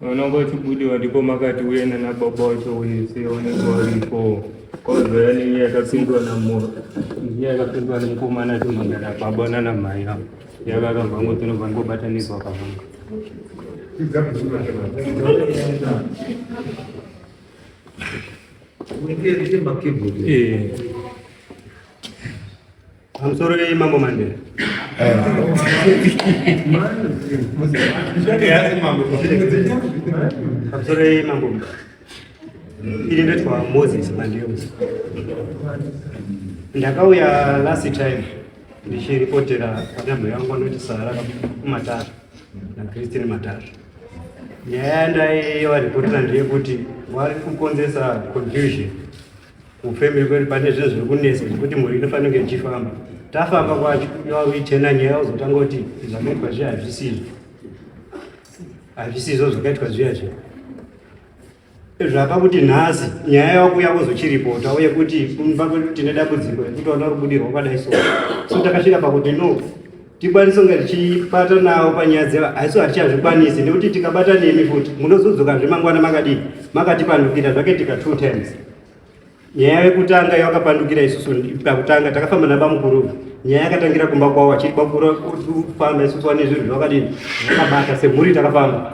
Mwanangu achibudiwa ndipo makati uye nana baba wacho wese onekwa varipo kwazoya nenyaya yakapindwa namoro nyaya yakapindwa nemukomana timangana baba nana mai avo yakaramba ngo tinobva ngobatanidzwa kavanga Pamusoro vei mambo Mandela. Pamusoro vei mambo. Ili ndetwa Moses Mandela. Ndakauya last time ndichiripotera panyama yangu anoti sara kumatara na Christine Matara. Nyaya ndaiva ripotera ndeyekuti vari kukonzesa confusion Kufembe kwedu pane zvinhu zviri kunetsa zvekuti mhuri inofanira kunge ichifamba. Tafamba kwacho iwavo ichena nyaya uzotanga kuti zvakaitwa zviya hazvisizvo. Hazvisizvo zvakaitwa zviya zviya. Zvapa kuti nhasi nyaya yakuuya kuzochiripota uye kuti kumba kwedu tine dambudziko rekuti vana rubudirwa kwadai so. So takasvika pakuti no tikwanise kunge tichibatanawo panyaya dzeva haiso hatichazvikwanisi nekuti tikabata nemi futi munozodzoka zve mangwana makadii makatipandukira zvaketika two times nyaya yekutanga yawakapandukira isusu pakutanga takafamba nabamukuru nyaya yakatangira kumba kwavo achiri bakufamba isusu wane zvinhu zvakadini zvakabata semhuri takafamba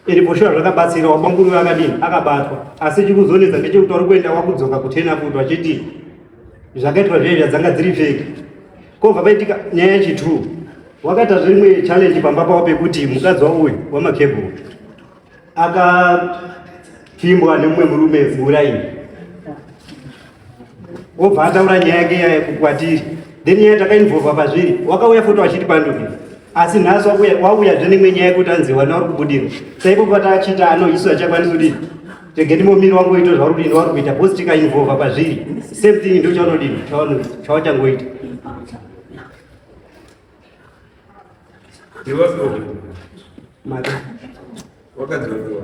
iri poshuwa zvakabatsira wabamukuru vakadini akabatwa asi chikuzonetsa ndechekuti wari kuenda wakudzoka kutena futi vachiti zvakaitwa zviye zvadzanga dziri feki Kobva paitika nyaya yechitrue, wakaita zvimwe challenge pamba pavo pekuti mukadzi wavo uyu wamakebhuru akapfimbwa nemumwe murume ziuraini wobva ataura nyaya yake yaya kukwatiri then nyaya takainvolva pazviri wakauya futi wachiti panduki asi nhasi wauyazve nemwe nyaya yekuti anzi wana uri kubudira saipo patachiita ano isu achakwanisa kuti tegeni momiri wangoita zvauri kuita vari kuita bhosi tikainvolva pazviri same thing ndo chaunodii chawachangoita wakadzoiwa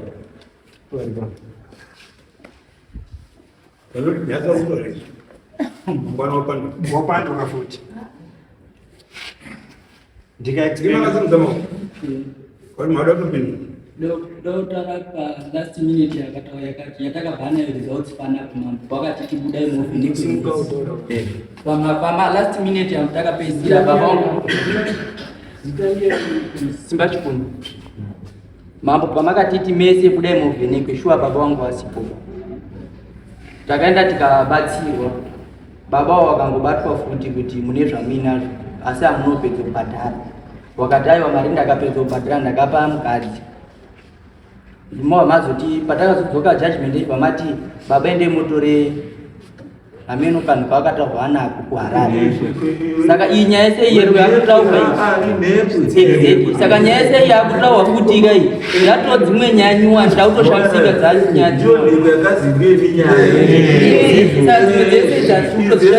wapanduka futi ndikaekdotara palast minute yakatawa yakati yatakabva nayo results panap mambo kwakati tibudai mopamapalast minute yangu takapedzira papasimba chikunu Mambo pamakatiti mese budai muvhenekwe shuwa baba wangu vasipo. Takaenda tikabatsirwa. Baba wavo vakangobatwa futi kuti mune zvamuinazvo asi hamunopedza kubhadhara. Wakati aiwa mari ndakapedza kubhadhara ndakapa mukadzi. Ndimo mazoti patakazodzoka judgment pamati baba ende motore ameno kanhu kaakataurwa nako kuharare saka iyi nyaya yese iye yakutaurwa iyi saka nyaya yese iyi yakutaurwa futi ka iyi yatoo dzimwe nyaya nyuwani takutoshamisika dzacho nyaya dzese dzazikutoziva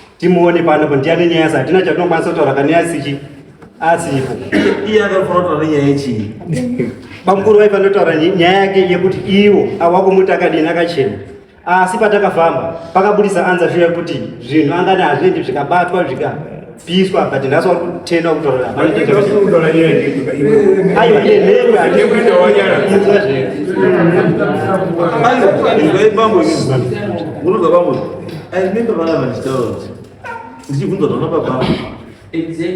timuone pano kuti ndiani nyaya yasa hatina chatinokwanisa kutaura kane asiki asipo iye akafanira kutaura nyaya yechii bamukuru vaifanira kutaura nyaya yake yekuti iwo awakumuti akadini akachena asi patakafamba pakabudisa anza shuya kuti zvinhu angani hazviendi zvikabatwa zvika piswa but nhasi wari kutenda kutoraiwa I remember vana vachitaura kuti ndichibvunza kuti baba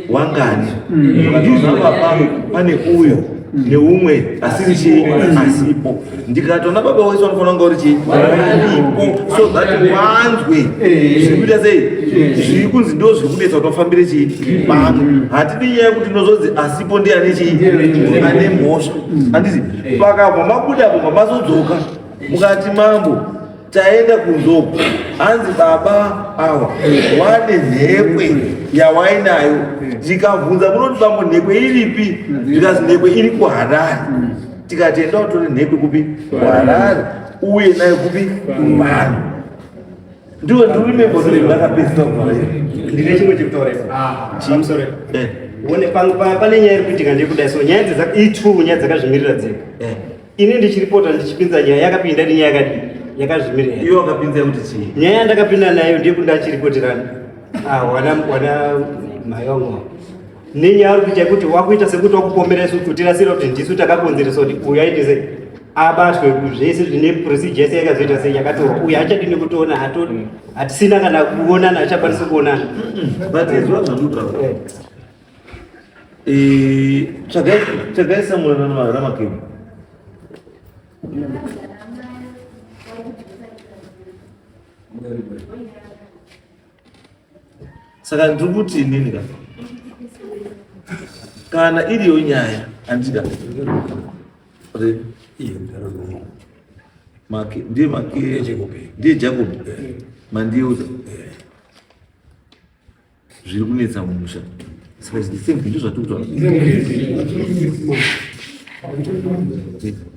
wangani ndichibvunza mm. baba pane uyo neumwe asiri chii asipo ndikatona baba wese vanofanira kunga uri chii aripo so that wanzwe eh. zvikuita sei eh. zviri kunzi ndo zviri kunetsa kuti vafambire chii pano mm. hatidi nyaya yekuti ndozonzi asipo ndi ane chii ane mhosva handizi eh. pakabva mabuda apo mamazodzoka mukati mambo Taenda kunzoko hanzi baba awa wane nhekwe yawainayo ndikabvunza munoti bambo nhekwe iripi ndikazi nhekwe iri kuharari tikati enda utore nhekwe kupi kuharari uye nayo kupi kumhani ndiwe ndirimembo ndakapedzisa kuvaira ndine chimwe chekutoresa pane nyaya iri kuitika ndekuda so nyaya idzi itwu nyaya dzakazvimirira dzega ini ndichiripota ndichipinza nyaya yakapinda ndi nyaya yakadii yakazvimirira iwe wakapinza kuti chii nyaya yandakapinda nayo ndiye kuti ndachiripoterana ah, wana wana mayongo nenyaya uri kuita kuti wakuita sekuti wakupombera isu kuti rasira kuti ndisu takakonzeresa kuti uyu aite sei abatwe zvese zvine procedure yese yakazoita sei yakatorwa uyu achadi nekutoona hatisina kana kuonana achakwanisa kuonana but izwa zvamuta eh. tsvagai samuel ramakeni saka ndiri kuti inini ka kana iriyo nyaya andika make ndiye make ndiye jacob mandiuza zviri kunetsa mumusha saka zvinhu same zvinhu zvatotwa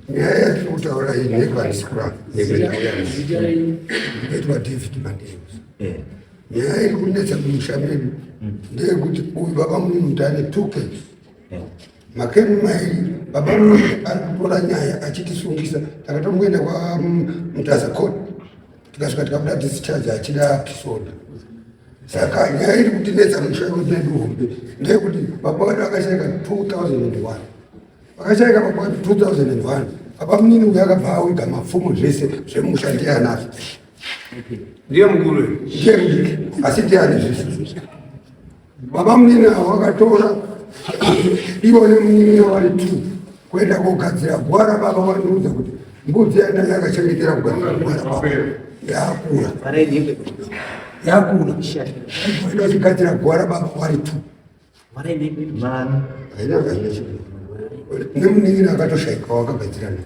nyaya yatinotaura iyi nekwanisi kurapa ekuyaitwa david madei eh. nyaya iri kunetsa mumusha medu hmm. ndeyekuti uyu baba munhu mutane two case eh. makeni mairi baba munhu ari kutora nyaya achitisungisa takatomboenda kwamutaza court tikasvika tikabuda discharge achida kisoda saka nyaya iri kutinetsa mushaiko medu hombe ndeyekuti baba vedu vakashaika 2001 vakashaika baba vedu 2001 apa munini uyo akabva awiga mapfumo zvese zvemusha ndiyanazvo ndiye mukuru ndiye mudiki asi ndiyani zvese Baba munini avo vakatora ivo nemunini vari two kuenda kogadzira gwara. Baba vandiudza kuti mbudzi yandanga yakachengetera kugadzira gwara baba yakura yakura aida kugadzira gwara baba vari two nemunini akatoshaika wakagadzira naye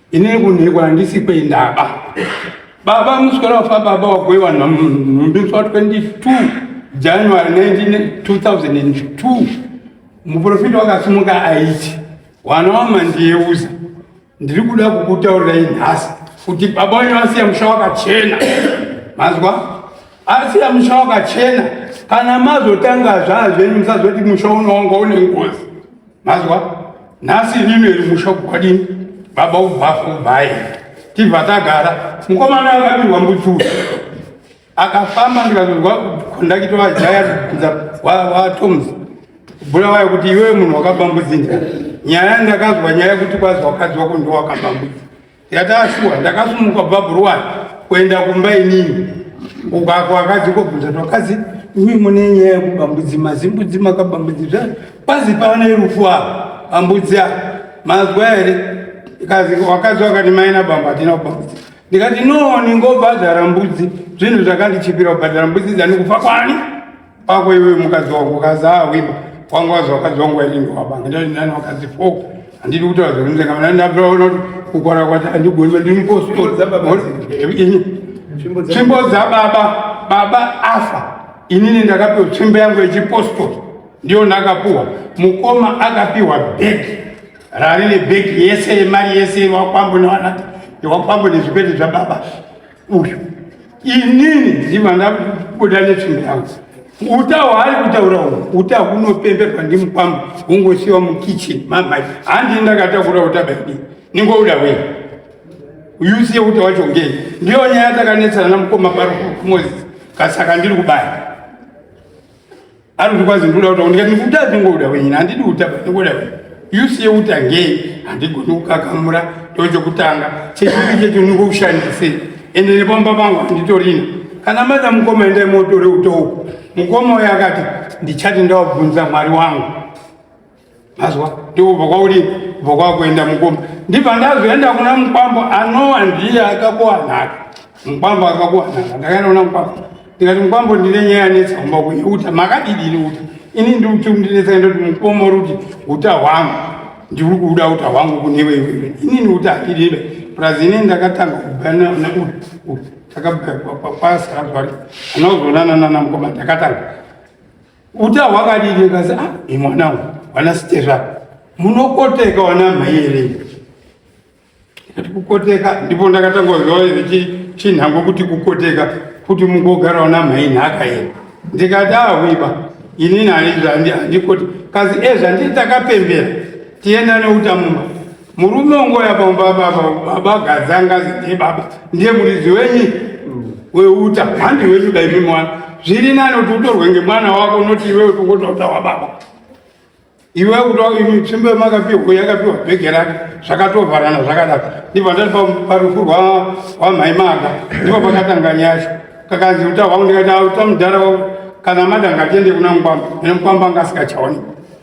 Ine kunhekwa handisi kwendaba. Baba musikana wafa baba wako iwanhu nhumbi musi wa 22 January 2002 muprofita wakasimuka aiti wana wamandiyeuza ndiri kuda kukutaurirai nhasi kuti baba wenyu vasiya musha wakachena mazwa asiya musha wakachena kana mazotanga zvaa zvenyu musazoti musha unowanga une ngozi mazwa nhasi imimi iri musha kukwadini baba ubhafu ubhayi tibva tagara mukomana akabirwa mbuchuu akafamba ndikazozwa kondakito vajaya kubvunza watoms bula wayo kuti iwewe munhu wakabambudzinja nyaya ndakazwa nyaya kuti kwazwa wakadzi wako ndiwakabambudza Yataa shuwa ndakasumuka kubva bhuruwani kuenda kumba inini uko ako akadzi kobvunza twakadzi imi mune nyaya yekuba mbudzi mazimbudzi makaba mbudzi zvani kwazi pavane rufu avo ambudzi avo mazwa here kazi wakadzi wakati maina bamba hatina kuba mbudzi ndikati no ningobhadhara mbudzi zvinhu zvakandichipira kubhadhara mbudzi dzani kufa kwani pako iwe mukadzi wako kazi awiba wanga wazi wakadzi wangu wainenge wabanga ndati ndani wakadzi four handidi kuti vazorunze kana ndani ndatoona kuti kukwana kwati andigoni mandiri mupostori tsvimbo dzababa baba afa inini ndakapiwa tsvimbo yangu yechipostori ndiyo ndakapuwa mukoma akapiwa bheki rarine bheki yese yemari yese yewakwambo newanati yewakwambo nezvikwete zvababa uyu inini ndiva ndabuda netsvimbo yangu uta hwaari kutaura uhu uta hunopemberwa ndimukwambo hungosiwa mukitchen mamai handii ndakatakura uta baidi ningouda wei uyusiye uta wacho ngei ndiyo nyaya takanetsana namukoma paro kumozisi kasaka ndiri kubaya anoti kwazi ndoda kutaura ndikati ndikuda ndingoda wenyini handidi kutaba ndingoda wenyi yusi yeutangei handigoni kukakamura ndo chekutanga chechii checho ndingokushandisei ende nepamba pangu handitorina kana mada mukoma endai motore utouku mukoma uyo akati ndichati ndawabvunza mwari wangu azwa ndikubva kwauri bva kwakuenda mukomba ndibva ndazoenda kuna mukwambo anowa ndiye akakuwanaka mukwambo akakuwanaka ndakaenda kuna mukwambo ndikati mukwambo ndine nyaya yanetsa kumba kuye uta makadidini uta ini ndikuti ndinetsa ndoti mukombo ruti uta hwangu ndiri kuuda uta hwangu kunewe iwewe inini uta hakidebe plus ini ndakatanga kubva neuta takabva kwasara zvari anozoonana nana mukoma ndakatanga Uta hwakadini kazi ah imwana uyu wana stera munokoteka wana mhai here kati kukoteka ndipo ndakatanga kuziva ichi chinhango kuti kukoteka kuti mungogara wana mhai nhaka here ndikati ahwiba ah, inini handikoti kazi ezvandii eh, takapembera tienda neuta mumba Murume ungouya pamba baba baba gadzanga ndiye baba ndiye muridzi wenyi weuta handi wenyu daimi mwana zviri nani kuti utorwe ngemwana wako unoti iwe utongotaura wababa iwe kuti tsvimbo yemakapiwa yakapiwa bhege rake zvakatovharana zvakadaro ndipo ndati parufu rwamhai maka ndipo pakatanga nyasha kakanzi uta hwangu ndikati uta mudhara wangu kana mada ngatiende kuna mukwamba ene mukwamba anga asikachaonekwa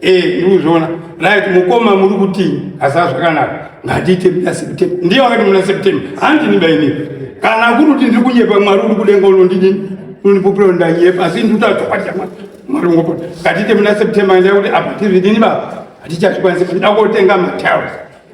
Eh, ndikuzviona right mukoma muri kuti asaa zvakanaka ngatiite muna september ndiye wakati muna september handini baini kana kuri kuti ndiri kunyepa mwari uri kudenga unondidini unondipupira undanyepa asi ndiri kutaatokwatia mwari ungopota ngatiite muna september ndaa kuti apa tiri vidini baba hatichazvikwanisa ndida kotenga matiles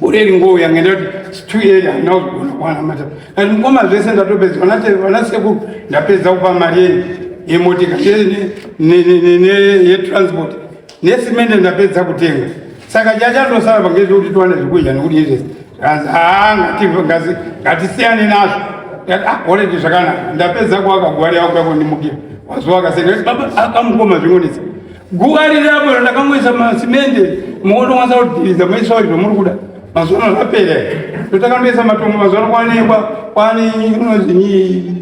gore ringo yanga ndati two year handina kuzogona kuwana mata kati mukoma zvese ndatopedza vana sekuru ndapedza kupa mari yenyu yemotika yetransport nesimende ndapedza kutenga saka chachandosara pangezvekuti tiwane zvekudya nekuti izvese kanzi haa ngatingazi ngatisiyane nazvo oredi ah, zvakanaka ndapedza kuwaka gwari yakuda kundimukira wazowa kaseka baba akamukoma zvingonetsa Guva riri apo randakangoisa masimende muono wanza kudhiriza maisa izvo muri kuda mazuva ano zvapera totakandoisa matombo mazuva ano kwaanekwa kwaane inozii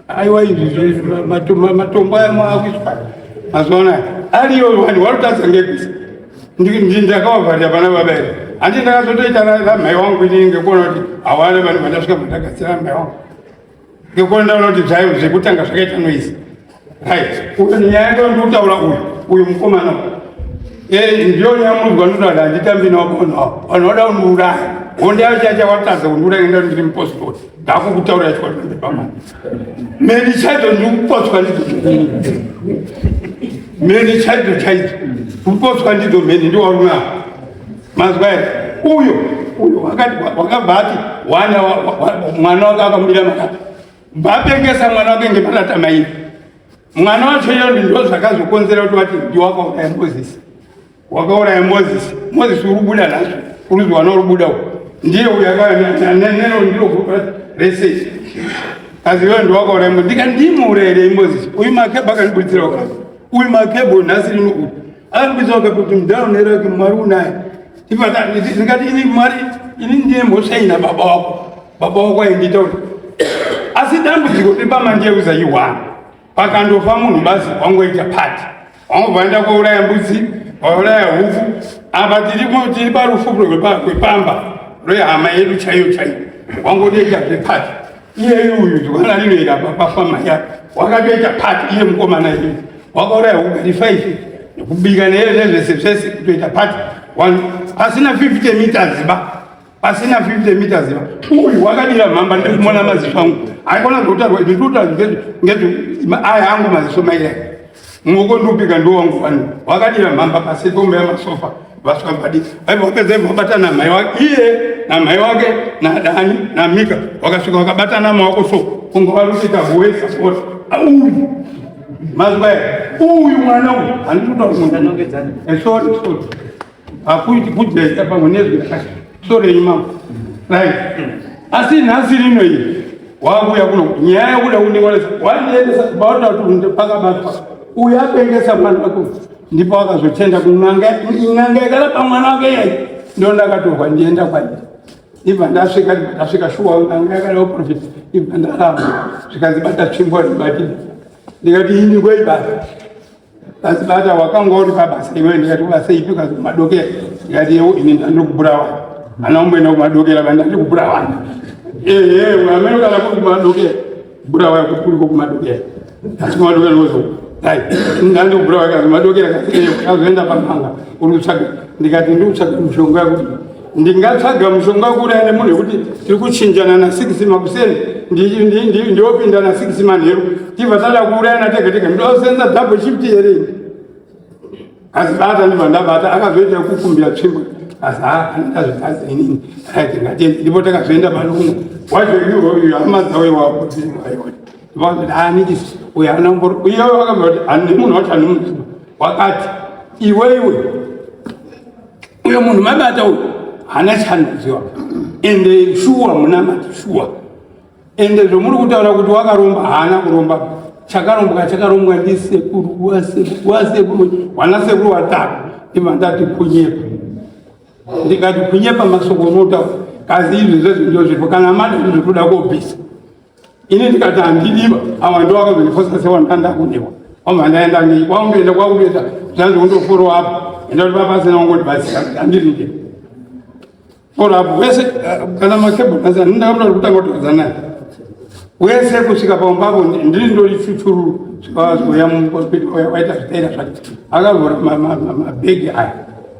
aiwa izvi matombo aya maakuiswa mazuva anaya ariyo vanhu vanotadza ngekuisa ndakavavharira vana baba ere handi ndakazotoita ramhai wangu inini ngekuona kuti hawana vanhu vandasvika vandagatsira mhai wangu Ngekuona ndaona kuti zvayo zvekutanga zvakaita noise. Right. Uyo nyaya yake ndikutaura uyu. Uyu mukomana. Eh ndiyo nyamudzwa ndodada nditambi nawo kono. Vanoda unuraya. Honde yacho yacha watadza kunuraya ngenda ndiri mupostori. Ndako kutaura yacho kwatende pamana. Meni chacho ndikupotswa ndidzo. Meni chacho chacho. Kupotswa ndidzo meni ndiwo unaa. Mazwa here? Uyo uyo wakati wakabva ati wana mwana wake akamira makati bapengesa mwana wake ngemarata mairi mwana wacho iyo ndizvo zvakazokonzera kuti wati ndi wakauraya mozisi wakauraya mozisi mozisi urubuda nazvo uruzi wana urubuda uko ndiye uyo akaaneno ndiro gurupu rese asi iyo ndi wakauraya mo ndika ndimuurayirei mozisi uyu makebha akandiburitsira wakati uyu makebho nhasi rino uyu Anobvisa wakapi kuti mudhara unera kuti mwari unaye. Ndikati ini mwari ini ndiye mhosva ina baba wako. Baba wako aindita kuti asi dambudziko repamanje kuzayiwana pakandofa munhu basi wangoita pati wangobvaenda kwauraya mbudzi wauraya hupfu apa tiri parufu rwepamba rwehama yedu chaiyo chaiyo wangodoita zvepati iyeyu uyu ndikona rinoita papafama ya wakatoita pati iye mukomana iye wakauraya hugari five nekubika neye nezvese zvese kutoita pati one pasina 50 meters ba pasina 50 meters ba uyu wakadira mhamba ndikumona maziso angu aikona kutotarwa ndikutotarwa ngezve aya angu maziso maira Mwoko ndupika ndo wangu vanhu wakadira mhamba pasi pombe ya masofa vaswa mbadi aiva wapedza ivo wabata na mhai wake iye na mhai wake na dani na mika wakasvika wakabata na mawako so kungo varusika huwe support uyu mazwa uyu mwana uyu handikuta kunda nongedzana eh, sorry sorry hakuiti kujaita pamwe nezwi rakashotorei mambo right asi nhasi rino iyi wakuya kuno nyaya yakuda kundingwarisa wandiendesa kubaota kuti pakabatwa uyu apengesa mwana wako ndipo wakazochenda kunanga inanga yakarapa mwana wake yai ndo ndakatorwa ndienda kwaii ibva ndasvika ndasvika shuwa nanga yakada uprofit ibva ndaramba zvikanzi bata tsvimbo ndibatidi ndikati ini kwaibata Asi bata wakanga uri pabasa iwe ndikati basa ipi kazi kumadokera ndikati yewo ini ndandikubhurawanda ana umboenda kumadokera ba ndandikubhurawanda ehe amene kana kuri kumadokera bhurawaya kuti kuriko kumadokera asi kumadokera kozo dai ndandikubhurawaya kazi madokera kazi eyo kazoenda pamhanga uri kutsvaga ndikati ndiri kutsvaga mushonga yakuti ndingatsvaga mushonga kuuraya nemunhu yekuti tiri kuchinjana na six makuseni ndiopinda na six manheru tibva tada kuurayana tega tega ndosenza double shift here asi bata ndibva ndabata akazoita kukumbira tsvimbo asi haandazvitaza inini rit ngatiende ndipo takazoenda panokuno wacho iuyu hama dzawe wakuti anikisi uyo ana mboro uyo akabva kuti ani munhu wacho ani munhu wakati iwe iwe uyo munhu mabata uyo hana chanoziwa ende shuwa munamati shuwa ende zvomuri kutaura kuti wakaromba haana kuromba chakarombwa chakarombwa ndisekuru wasekuru wasekuru wanasekuru watatu imandati kunyepa ndikati kunyepa masoko unotaura kazi izvi zvezvinjo zvirpo kana mati zvinotoda kobvisa ini ndikati handidiba awa ndo vakazondifosa sewandanda kundiwa wamba ndaenda nei kwakundoenda kwakundoenda zvanzi kundoforo apo enda kuti vapasina wangondibatsira kuti handiride foro apo wese eh, kana makebhu asi hanini ndakamuta kuti kutanga kutaudza naye wese kusvika pamumba apo ndiri ndori chuchururu zvikawazoya mukospiti waita zvitaira zvacho akavhura mabhegi aya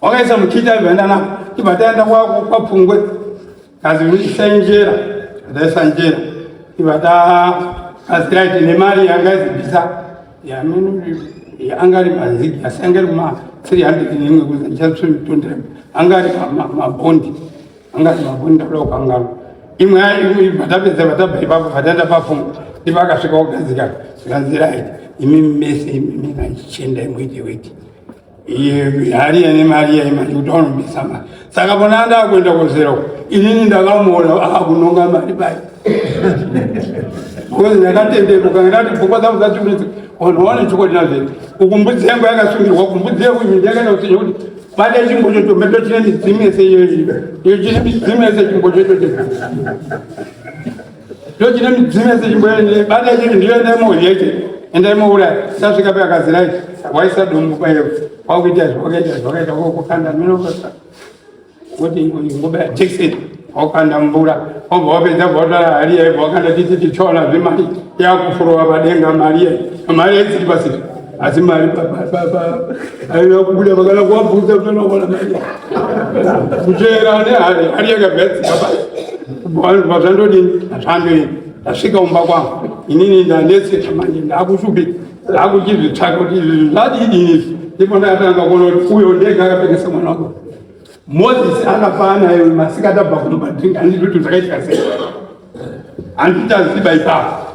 wakaisa muchita ibandana ibataenda kwako kwapfungwe kazi uisa njera ndaisa njera ibata kazi right ine mari yanga izibisa yamene anga ari mazigi asi anga ari ma 300 neimwe kuza ndichatsvimtondera anga ari mabondi anga ari mabondi ndakuda kukangana imwe imwe vatapedza vataba ipapo vataenda pafunga ndipo akasvika kugadzika zvikanzi right imi mese imi maichenda imwe ite weti hari yane mari yaye manje kuti anobisa mari saka vona anda akuenda kozera uko inini ndakamuona akunonga ah, mari bai because ndakatenderuka ndati pfungwa dzangu dzatiunitsa vanhu vaone chokwadi nazvete uku mbudzi yangu yakasungirwa kumbudzi yangu iyi ndakaenda kuseja kuti bata chimbo chocho mbeto chine midzimu yese iyoyi iyo chine midzimu yese chimbo chocho ndochine midzimu yese chimboende bada chete ndiyoende mojeche endai mouraya sasvika pe akazirai waisa dumbu payo wakuita zvawakaita zvawakaita wokukanda minokosa woti ngobaya jekiseni wakukanda mvura wobva wapedza bva watora hari yaibva wakanda titi tichona zvemari yakufurova padenga mari yai mari yaitsiri pasiri asi mari aiva kubuda vakana kuwabvunza kutonoona mari kuteera ane hari hari yakagadzika pa vanhu vazvandodini hazvandoini ndasvika kumba kwangu inini ndanetseka manje ndakushupi ndakuchizvitsvaka kuti izvi zvadidini izvi ndipo ndakatanga kuona kuti uyo ndega akapekesa mwana wako moses akafaa naye masikati abva kunobatinga handiti kuti zvakaitika sei handiti aziba ipapo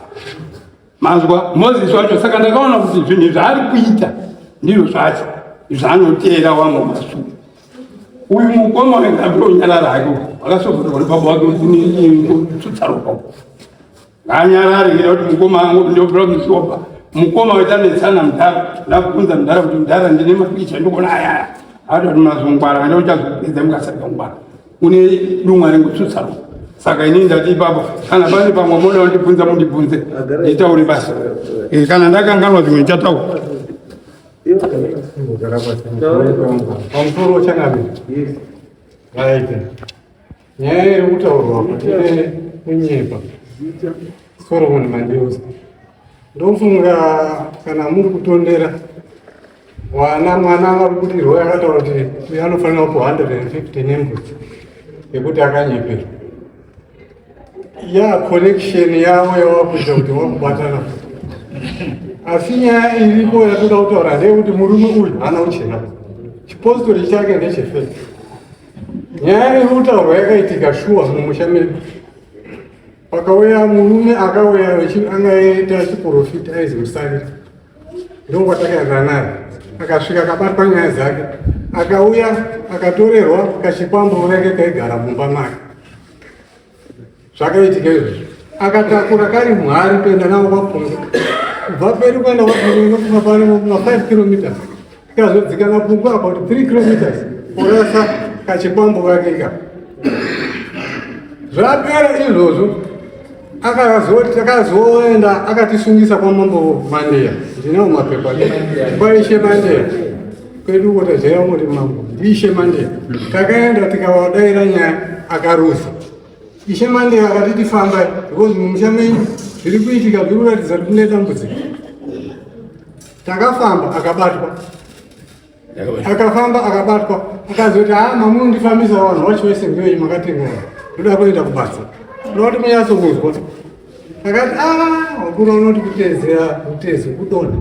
Manzwa Moses wacho, saka ndakaona kuti zvinhu zvaari kuita ndizvo zvacho zvaanoteera wamwe masuku. Uyu mukoma wekabiro unyarara hake akasogotoka kuti baba wake kutsaroka nganyarare ngeda kuti mukoma angu ndobira kusoba mukoma waita netsana mudhara ndakukunza mudhara kuti mudhara ndine mapicha ndikuona ayaya ati kuti mazongwara ane uchazopedza mukasarika ngwara une dumwa rekutsutsa saka inini ndati ipapo kana pane pamwe moda wandibvunza mundibvunze nditaure basa eh, kana ndakanganwa zvimwe ndichataura pamusoro chanabe aite nyaya iri kutaurwa kuti kunyepa soromoni mandiusa Ndofunga kana muri kutondera mwana mwana akabudirwa akataura kuti uyo anofanira kupo 150 nembudzi yekuti akanyeperwa ya connection yavo yavakuita kuti vakubatana asi nyaya iripo yatoda kutaura ndeyekuti murume uyu haana kuchena chipostori chake ndechefesi nyaya iri kutaurwa yakaitika shuwa mumusha medu Pakauya murume akauya anga aita chiporofita aizi musari ndokwatakayana naye akasvika akabatwa nyaya dzake akauya akatorerwa kachikwambo kunenge kaigara mumba make zvakaitika izvozvo akatakura kari muhari kuenda navo kwapunga kubva peri kuenda kwapunga inokuma pano ma 5 kilometers Kazodzikana pungwa about 3 kilometers kurasa kachikwambo kake ka. Zvapera izvozvo akazoti akazoenda akatisungisa kwa mambo Mandeya. Ndinawo mapepa kwa ishe Mandeya. Kwedu uko tajaira kuti mambo ishe Mandeya. Takaenda tikawadaira nyaya akarusa. Ishe Mandeya akati tifamba because mumusha menyu zviri kuitika zviri kuratidza kuti kune dambudziko. Takafamba akabatwa. Akafamba akabatwa. Akazoti ah mamu ndifambisa vanhu wacho wese ngewe makatenga. Ndoda kuenda kubasa. Ndoda kunyatso kuzwa. Akati ah wakuru unoti kutezera kutezi kudonda.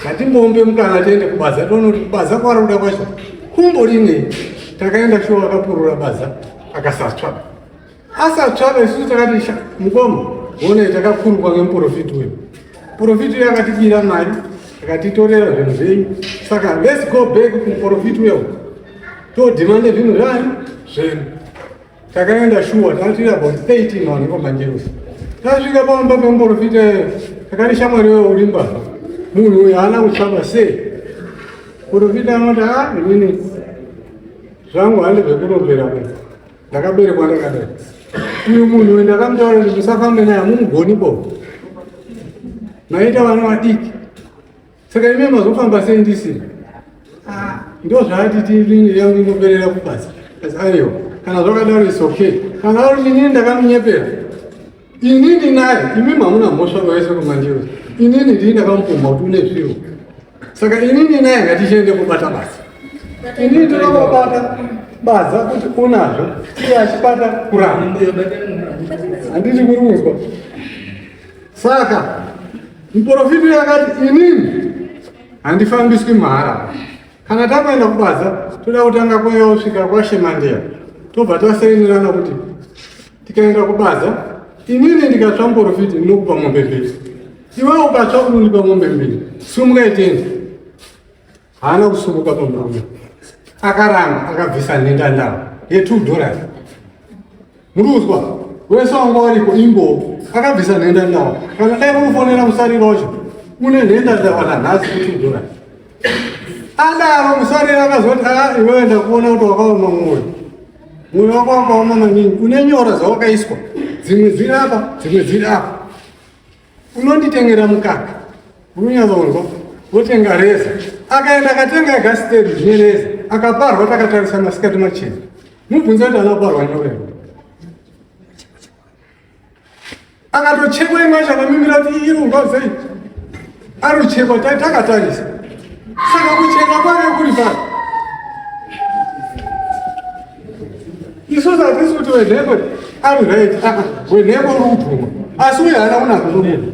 Ngatimbombe mukana tiende kubasa. Tonoti kubasa kwari kuda kwacho. Kumbo line takaenda shuwa akapurura baza akasatsva. Asatsvana isusu takati sha mukoma one takakurukwa ngemuprofiti wedu. Profiti uyu akatibira mari akatitorera zvinhu zvenyu saka let's go back kumuprofiti uya uku todhimande zvinhu zvani zvenyu. Takaenda shuwa takatira about 13 vanhu komanjerusi. Tasvika pamba pemuprofiti eh, takati shamwari wewe uri mbavha munhu uyu haana kuchama sei. Profiti anoti ha ah, inini zvangu handi zvekurombera munhu ndakaberekwa ndakadai uyu munhu uyu ndakamutaura kuti musafambe naye hamumugoni bo maita vana vadiki saka ime mazofamba sei ndisiri ah, ndo zvaati tiinoperera kubasa asi aiwa kana zvakadaro is okay kana ari inini ndakamunyepera Inini naye imi mamuna mhosva vaise kumandiwa. Inini ndii ndakamupumha kuti une zviro. Saka inini naye ngatichiende kubata basa. Inini ndinobata baza kuti unazvo iye achibata kuramba. Handiti kuri kunzwa. Saka muporofiti yakati inini handifambiswi mahara. Kana takuenda kubaza toda kutanga kwaiya kusvika kwaShemandeya tobva tasainirana kuti tikaenda kubasa inini ndikatsva mporofiti ndinokupa mombe mbiri iwewe ukatsva unondipa mombe mbiri sumuka itendi haana kusumuka pamurume akaramba akabvisa nhenda ndava yetwo dollars muri kuzwa wese wanga wariko imbo akabvisa nhenda ndava kana dai kukufonera musariro wacho une nhenda ndava nanhasi kutwo dollars adaro musariro akazoti a ah, iwewe ndakuona kuti wakaoma mwoyo Moyo wako wakaoma maningi, une nyora dzawakaiswa, dzimwe dziri apa, dzimwe dziri apa. Unonditengera mukaka, unonyazonzwa, wotenga reza. Akaenda akatenga egasiteri zvine reza, akaparwa takatarisa masikati machena. Mubvunze kuti anaparwa nyora here? akatochekwa imwe yacho akamimira kuti iri kumba sei aruchekwa takatarisa saka kucheka kwave kuri pano isusu hatisi kuti wenheko ari right ah, wenheko uri kutumwa asi uye haana kunaka nomunhu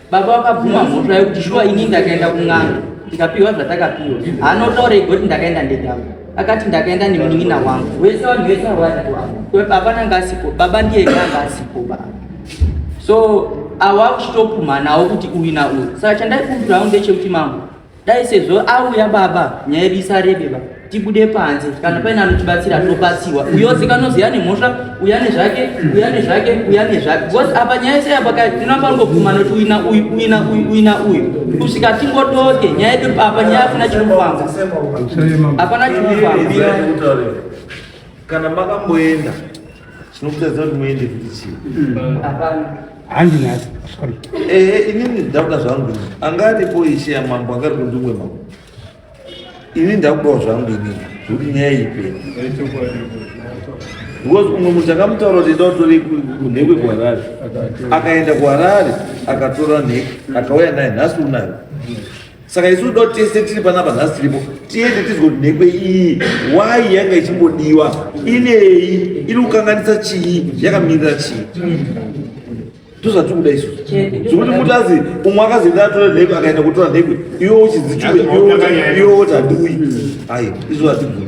Baba vakabvuma mhosva yekuti shuwa ini ndakaenda kun'anga ndikapiwa zvatakapiwa. Haana kutaura ega kuti ndakaenda ndega. Akati ndakaenda nemunin'ina wangu. Wese vanhu vese havaripo apa. Baba nanga asipo. Baba ndiye ega anga asipo baba. So awakuchitopumhanawo kuti uyu na uyu. Saka chandaikumbirawo ndechekuti mambo dai sezvo auya baba nyaya yedu isarebe baba tibude panze kana paine anotibatsira tobatsiwa uyose kanozi yane mhosva uyane zvake uyane zvake uyane zvake bcause apa nyaya yese yapa tinopangobvuma noti uina uyu uina uyu uina uyu kusvika tingodoke nyaya yedu papa nyaya afuna chiri kufamba hapana chiri kufamba kana makamboenda tinokutadza kuti muende kuti chii handinazo sorry eh inini ndauda zvangu anga aripo ishe yamambo anga ari kundimwe mambo ini ndakudawo zvangu ini zvokuti nyaya ipe because umwe munhu takamutaura kuti ndautore kunhekwe kuharare akaenda kuharare akatora nheke akauya naye nhasi unayo saka isu do tese tiri panapa nhasi tiripo tiende tizwe kuti nhekwe iyi why yanga ichimbodiwa inei iri kukanganisa chii yakamirira chii ndozvatiri kuda isu zvekuti mutazi umwe akazoenda atora nhekwe akaenda kutora nhekwe iwe uchizichuwe iwe woti handiuyi ayi isu hatibvuri